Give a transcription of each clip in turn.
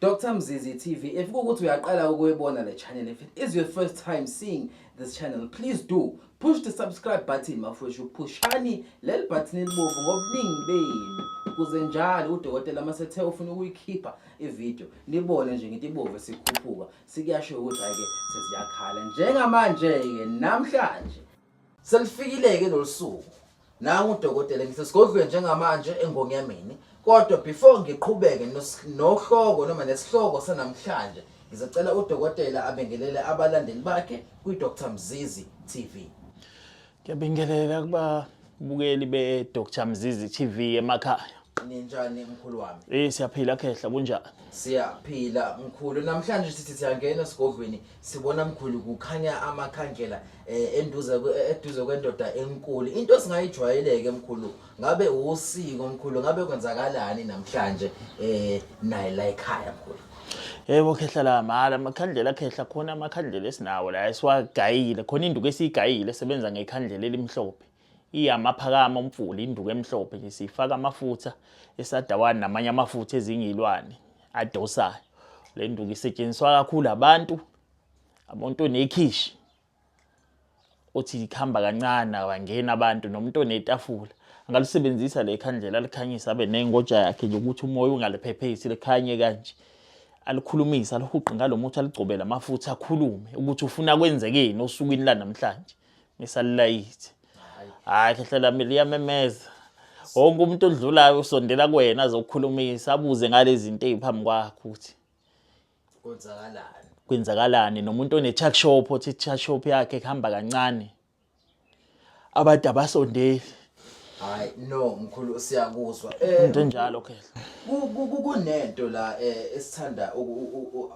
Dr Mzizi TV if kukuthi uyaqala ukuyibona le channel if it is your first time seeing this channel please do push the subscribe button mafwethu phushani leli button elibovu ngobuningi benu kuze njalo udokotela uma sethe ufuna ukuyikhipha ivideo nibone nje ngithi ibovu sikhuphuka sikuyasho ukuthi ayike sesiyakhala njengamanje-ke namhlanje Selifikile-ke lolu suku nangu udokotela ngisesigodlweni njengamanje engonyameni kodwa before ngiqhubeke nohloko noma nesihloko sanamhlanje ngizocela udokotela abingelele abalandeli bakhe kwi-dr mzizi tv ngiyabingelela kuba bukeli be-dr mzizi tv emakhaya ninjani mkhulu wami eh siyaphila khehla kunjani siyaphila mkhulu namhlanje sithi siyangena esigodlweni sibona mkhulu kukhanya amakhandlela eh, enduze eh, eduze kwendoda enkulu into singayijwayeleke mkhulu ngabe usiko mkhulu ngabe kwenzakalani namhlanje eh naye la ekhaya mkhulu yebo khehla la mala amakhandlela khehla khona amakhandlela esinawo la esiwagayile khona induku esiyigayile sebenza ngekhandlela elimhlophe Iyamaphakama umfula induku emhlophe nje siyifaka amafutha esadawani namanye amafutha ezingilwane adosayo. Le nduku isetshenziswa kakhulu abantu umuntu onekhishi othi likhamba kancane abangena abantu nomuntu onetafula angalisebenzisa le khandlela alikhanyisa abe nengoja yakhe nje ukuthi umoya ungaliphephesi likhanye kanje alikhulumisa alihuqe ngalo muthi aligcobele amafutha akhulume ukuthi ufuna kwenzekeni osukwini lanamhlanje ngisalilayithe hayi khehla lami liyamemeza wonke umuntu odlulayo usondela kuwena azokukhulumisa abuze ngalezi zinto eziphambi kwakho ukuthi kwenzakalani kwenzakalani nomuntu one-chuck shop othi i-chuck shop yakhe kuhamba kancane abantu abasondeli hayi no mkhulu siyakuzwa eh, into enjalo khehla kunento la eh, esithanda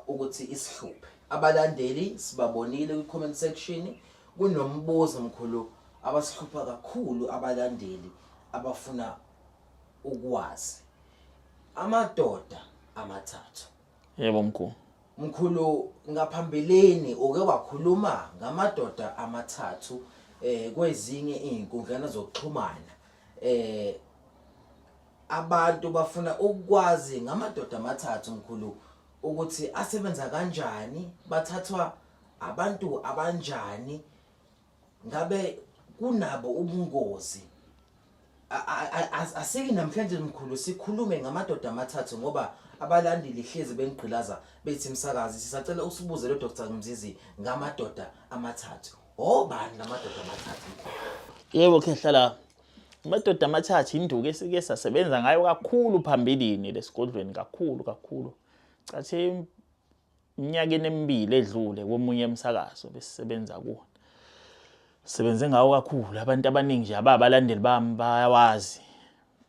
ukuthi isihluphe Abalandeli sibabonile kwi comment section kunombuzo mkhulu abasihlupha kakhulu abalandeli abafuna ukwazi amadoda amathathu yebo mkhulu mkhulu ngaphambilini uke wakhuluma ngamadoda amathathu eh kwezinye izinkundlana zokuxhumana eh abantu bafuna ukwazi ngamadoda amathathu mkhulu ukuthi asebenza kanjani bathathwa abantu abanjani ngabe kunabo ubungozi asiki namhlanje mkhulu sikhulume ngamadoda amathathu ngoba abalandeli hlezi benigqilaza bethi msakazi sisacela usibuze lo Dr Mzizi ngamadoda amathathu obani lamadoda amathathu yebo khehla la Amadoda amathathu induku esike sasebenza ngayo kakhulu phambilini lesigodlweni kakhulu kakhulu. Cathi iminyakeni emibili edlule komunye emsakazo besisebenza kuwo. Sebenze ngawo kakhulu abantu abaningi nje ababalandeli bami bayawazi.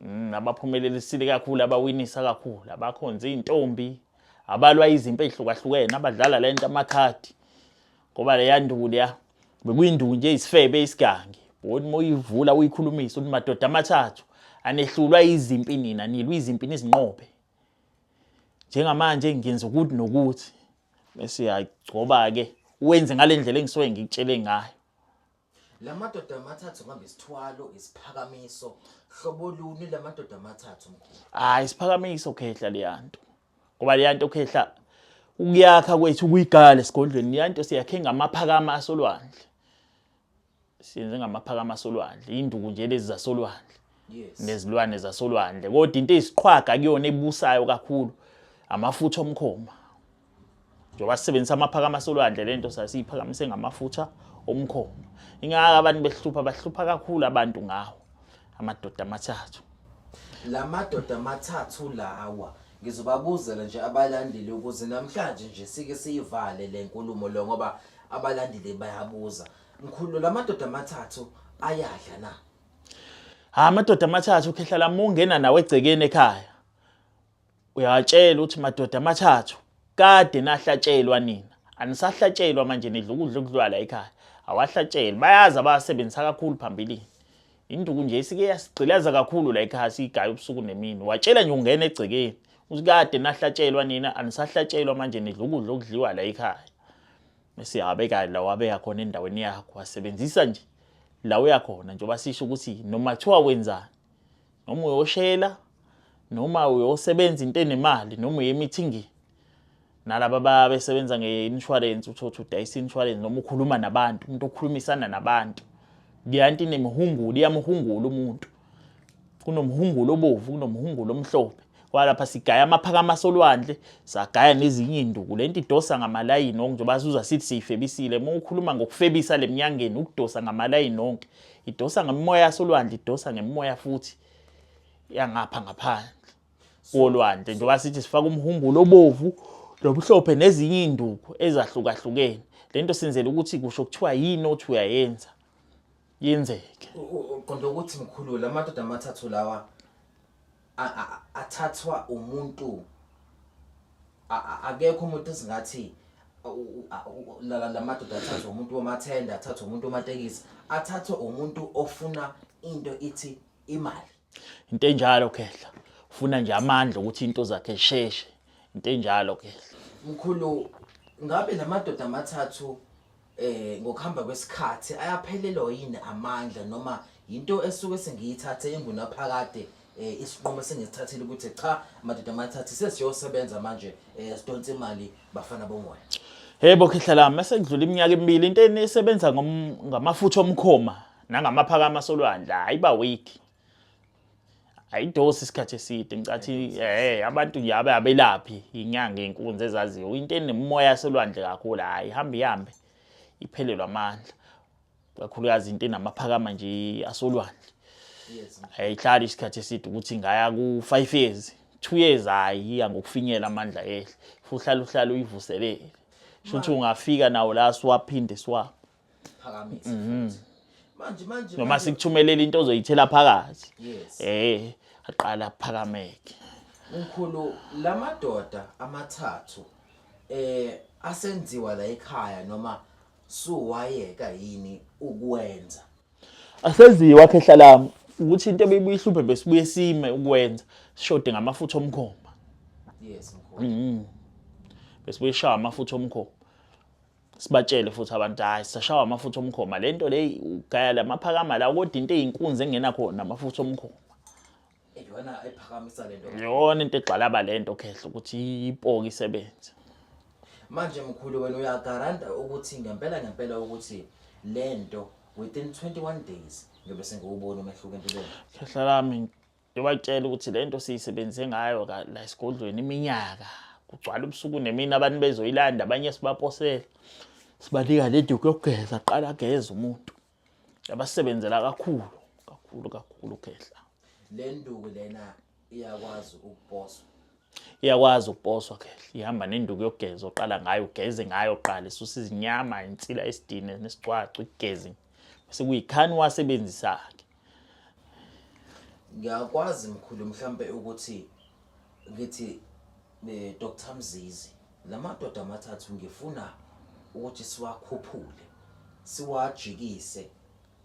Mm, abaphumelelisile kakhulu abawinisa kakhulu abakhonza izintombi abalwa izimpi ezihlukahlukene abadlala lento amakhadi ngoba leya nduku leya bekuyinduku nje isifebe isigangi boni uma uyivula uyikhulumisa uthi madoda amathathu anehlulwa izimpi nina nilwa izimpi nizinqobe njengamanje ngenza ukuthi nokuthi bese yagcoba-ke wenze ngale ndlela engisuke ngikutshele ngayo La madoda amathathu ngihamba isithwalo isiphakamiso hlobo luni la madoda amathathu mkhulu hayi isiphakamiso khehla leyanto ngoba leyanto khehla ukuyakha kwethu kuyigala esigodlweni leyanto siyakhe ngamaphakama asolwandle siyenze ngamaphakama asolwandle induku nje lezi zasolwandle yes nezilwane zasolwandle kodwa into eziqhwaga kuyona ebusayo kakhulu amafutha omkhoma njengoba sisebenzisa amaphakama solwandle le nto sasiyiphakamise ngamafutha omkhomo ingaka abantu behlupha bahlupha kakhulu abantu ngawo amadoda amathathu la madoda amathathu lawa ngizobabuzela nje abalandeli ukuze namhlanje nje sike siyivale le nkulumo lo ngoba abalandeli bayabuza mkhulu la madoda amathathu ayadla na ha amadoda amathathu ukhehla lamungena nawe egcekeni ekhaya Uyawatshela ukuthi madoda amathathu kade nahlatshelwa nina anisahlatshelwa manje nidla ukudla okudlwala ekhaya awahlatshelwe bayazi abasebenzisa kakhulu phambilini induku nje isike yasigqilaza kakhulu la ekhaya siyigaya ubusuku nemini watshela nje ungena egcekeni ukuthi kade nahlatshelwa nina anisahlatshelwa manje nidla ukudla okudliwa la ekhaya esiyabeka la wabeka khona endaweni yakho wasebenzisa nje la uyakhona njengoba sisho ukuthi noma kuthiwa wenzani noma uyoshela noma uyosebenza into enemali noma uye emithingini nalaba babesebenza nge-insurance uthotha udayisa i-insurance noma ukhuluma nabantu umuntu okhulumisana nabantu liyanti inemihungulu iyamhungula umuntu kunomhungulu obovu kunomhungulu omhlophe kwalapha sigaya amaphakama solwandle sagaya nezinye induku lento idosa ngamalayini onke njengoba sizuza sithi siyifebisile uma ukhuluma ngokufebisa lemnyangeni ukudosa ngamalayini onke idosa ngemimoya yasolwandle idosa ngemimoya futhi yangapha ngaphandle kolwandle njengoba sithi sifaka umhumbulo obovu lomhlophe nezinye induku ezahlukahlukene lento senzele ukuthi kusho kuthiwa yini othi uyayenza yenzeke qonda ukuthi mkhulu lamadoda amathathu lawa athathwa umuntu akekho umuntu esingathi lamadoda athathwa umuntu wamathenda athathwa umuntu wamatekisi athathwa umuntu ofuna into ithi imali into enjalo khehla ufuna nje amandla ukuthi into zakhe sheshe into enjalo khehla mkhulu ngabe lamadoda amathathu eh ngokuhamba kwesikhathi ayaphelelwa yini amandla noma yinto esuke sengiyithathe engunaphakade eh isinqumo sengisithathile ukuthi cha madoda mathathi sesiyosebenza manje eh sidonsa imali bafana bomoya Hebo khehla lami mase kudlula iminyaka emibili into enisebenza ngamafutha omkhoma nangamaphakama solwandla hayiba weak ayidosi isikhathi eside ngicathi eh abantu yabe abelaphi inyanga inkunzi ezaziyo into enemoya selwandle kakhulu hayi ihamba ihambe iphelelwa amandla kakhulukazi into enamaphakama nje asolwandle ayihlali isikhathi eside ukuthi ngaya ku 5 years 2 years hayi iya ngokufinyela amandla ehle futhi uhlala uhlala uyivuselele shuthi ungafika nawo la siwaphinde siwa Mhm. manje manje noma sikuthumelela into ozoyithela phakathi eh aqala phakameke mkhulu lamadoda amathathu eh asenziwa la ekhaya noma suwayeka yini ukwenza asenziwa ke hlalami ukuthi into ebeyihluphe besibuye sime ukwenza sishode ngamafutha omkhomba yes mkhulu mhm besibuye shaya amafutha omkhomba sibatshele futhi abantu hayi sashawa amafutha omkhoma le nto leyi ugaya la maphakama la kodwa into eyinkunzi engena khona amafutha omkhoma iyona ephakamisa le nto yona into egxalaba le nto khehla ukuthi ipoki isebenze manje mkhulu wena uyagaranta ukuthi ngempela ngempela ukuthi le nto within 21 days ngiyobe sengiwubona umehluko empilweni khehla lami Ngiyobatshela ukuthi le nto siyisebenze ngayo la esigodlweni iminyaka kugcwala ubusuku nemini abantu bezoyilanda abanye sibaposela sibanika le duku yokugeza qala ageze umuntu yabasebenzela kakhulu kakhulu kakhulu ukhehla le nduku lena iyakwazi ukuposwa iyakwazi ukuposwa khehla ihamba nenduku yokugeza oqala ngayo ugeze ngayo qala isusa izinyama insila esidine nesicwacu igezi bese kuyikhani wasebenzisa-ke ngiyakwazi mkhulu mhlampe ukuthi ngithi eh, Dr Mzizi lamadoda amathathu ngifuna ukuthi siwakhuphule siwajikise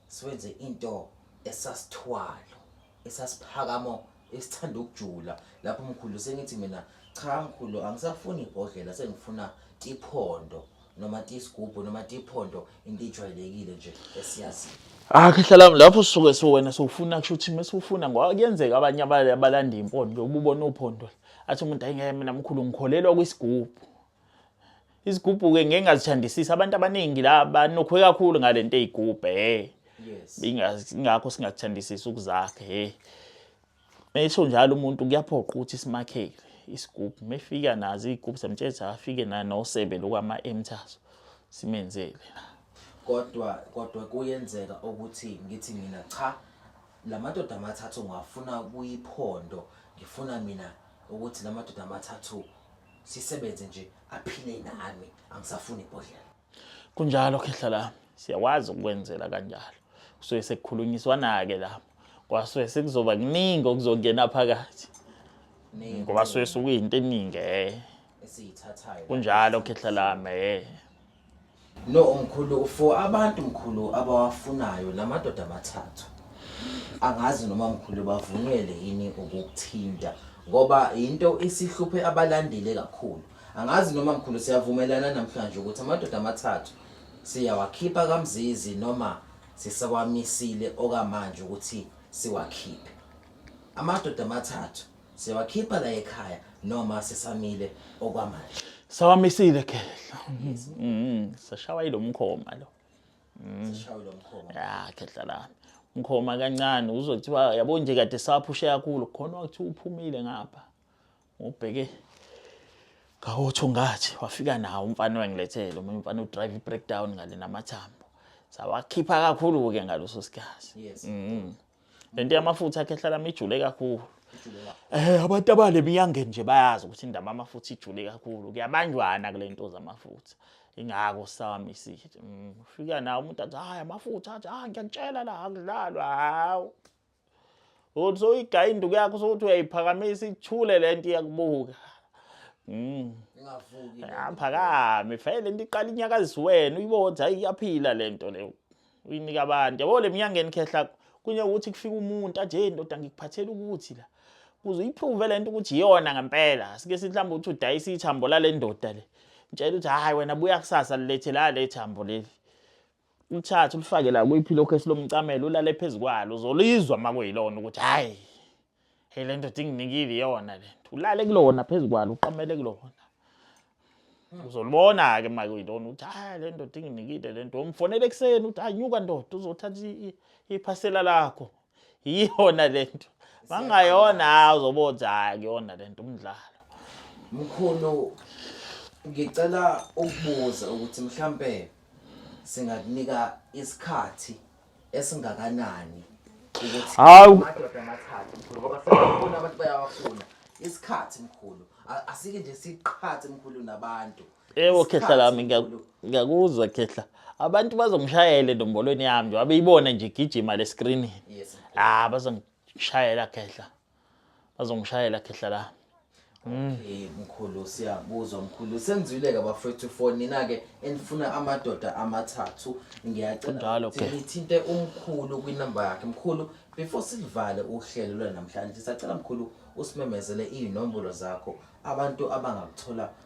siwenze into esasithwalo esasiphakamo esithanda ukujula lapho mkhulu sengithi mina cha mkhulu angisafuni ibhodlela sengifuna iphondo noma tiyisigubhu noma tiyiphondo into ijwayelekile nje esiyaziyo akhehlala lapho suke so wena sowufuna kusho ukuthi mesufuna ngoba kuyenzeka abanye abale abalanda impondo nje ububona uphondo athi umuntu ayingeke mina mkhulu ngikholelwa kwisigubhu isigubhu ke ngeke ngazithandisisa abantu abaningi la banokhwe kakhulu ngalento eyigubhe he ingakho singakuthandisisa ukuzakhe he Mesho njalo umuntu kuyaphoqa ukuthi simakhele isigubhu mefika nazo iy'gubhu semtshezi afike nanosebe lokwama-emthaso simenzele kodwa kodwa kuyenzeka ukuthi ngithi mina cha la madoda amathathu ngiwafuna kuyiphondo ngifuna mina ukuthi la madoda amathathu sisebenze nje aphile nami angisafuni ibhodlela Kunjalo khehla lami, siyakwazi ukwenzela kanjalo. Kusuke sekukhulunyiswana-ke lapho, kwasuke sekuzoba kuningi okuzongena phakathi ngoba suke sukuyinto eningi eh. esiyithathayo Kunjalo khehla lami eh. no mkhulu for abantu mkhulu abawafunayo namadoda amathathu angazi noma mkhulu bavunwele yini ukukuthinta ngoba yinto isihluphe abalandeli kakhulu Angazi noma mkhulu siyavumelana namhlanje ukuthi amadoda amathathu siyawakhipha kamzizi noma sisawamisile okamanje ukuthi siwakhiphe. Amadoda amathathu siyawakhipha la ekhaya noma sisamile okwamanje. Sawamisile khehla. Mhm. Sashawa ilomkhoma lo. Sishawe lo mkhoma. Ya khehla la. Mkhoma kancane uzothiwa yabo nje kade saphushe kakhulu khona ukuthi uphumile ngapha. Ngubheke ngawothungathi wafika nawo umfana wengilethele omunye umfana udrive i-breakdown ngale namathambo sawakhipha kakhulu-ke ngaleso sikhathi yes. mm. le nto yamafutha akhe ehlala mijule kakhulu Eh abantu abale miyange nje bayazi ukuthi indaba amafutha ijule kakhulu kuyabanjwana kule nto zamafutha ingako sami sithi mm, ufika nawo umuntu athi hayi amafutha athi hayi ngiyakutshela la akudlalwa hawu uthi soyigaya induku yakho sokuthi uyayiphakamisa ithule lento iyakubuka mm ingavuki aphakame ah, vele lento iqala inyakazisa wena uyibona hayi iyaphila lento leyo uyinika abantu yabo le mnyangeni khehla kunye ukuthi kufika umuntu aje ndoda ngikuphathela ukuthi la kuze uyiprove lento ukuthi iyona ngempela sike sithi mhlawumbe uthi udayisa ithambo lale ndoda le ngitshela ukuthi hayi wena buya kusasa lilethe la le thambo leli Ulithathe ulifake la kuyipilo khesi lomcamelo ulale phezu kwalo uzolizwa uma kuyilona ukuthi hhayi hey le ndoda inginikile iyona le nto ulale kulona phezu kwalo uqamele kulona uzolibona-ke uma kuyilona ukuthi hhayi le ndoda inginikile le nto umfonele ekuseni ukuthi anyuka ndoda uzothatha iphasela lakho yiyona lento mangayona hayi uzobothi hayi kuyona lento umdlalo mkhulu ngicela ukubuza ukuthi mhlambe singakunika isikhathi esingakanani ukuthi Hawu. amadoda amathathu mkhulu ngoba sebafuna abantu bayawafuna isikhathi mkhulu A- asike nje siqhathe mkhulu nabantu Ewo khehla lami ngiyakuzwa khehla. Abantu bazongishayele nombolweni yami nje abeyibona nje igijima le screen. Yes. Ah bazongishayela khehla. Bazongishayela khehla la. Mm. Okay mkhulu siyakuzwa mkhulu sengizwile ke bafethu for nina ke enifuna amadoda amathathu ngiyacela ukuthi nithinte umkhulu kwinamba yakhe mkhulu before silivale uhlelo lwanamhlanje sacela mkhulu usimemezele inombolo zakho abantu abangakuthola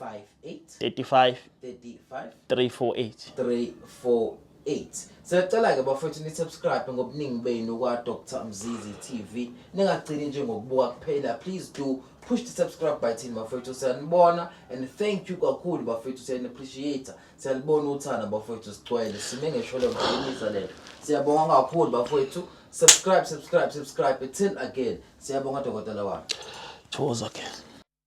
35 348 siyacela-ke bafethu ni-subscribe ngobuningi benu kwa-dr mzizi tv ningagcini nje ngokubuka kuphela please do push the subscribe button bafethu siyanibona and thank you kakhulu bafethu siyani-appreciate siyanibona uthanda bafethu sigcwele sime ngeshole mqinisa lento siyabonga kakhulu bafethu subscribe subscribe subscribe till again siyabonga dokotela wami thokoza ke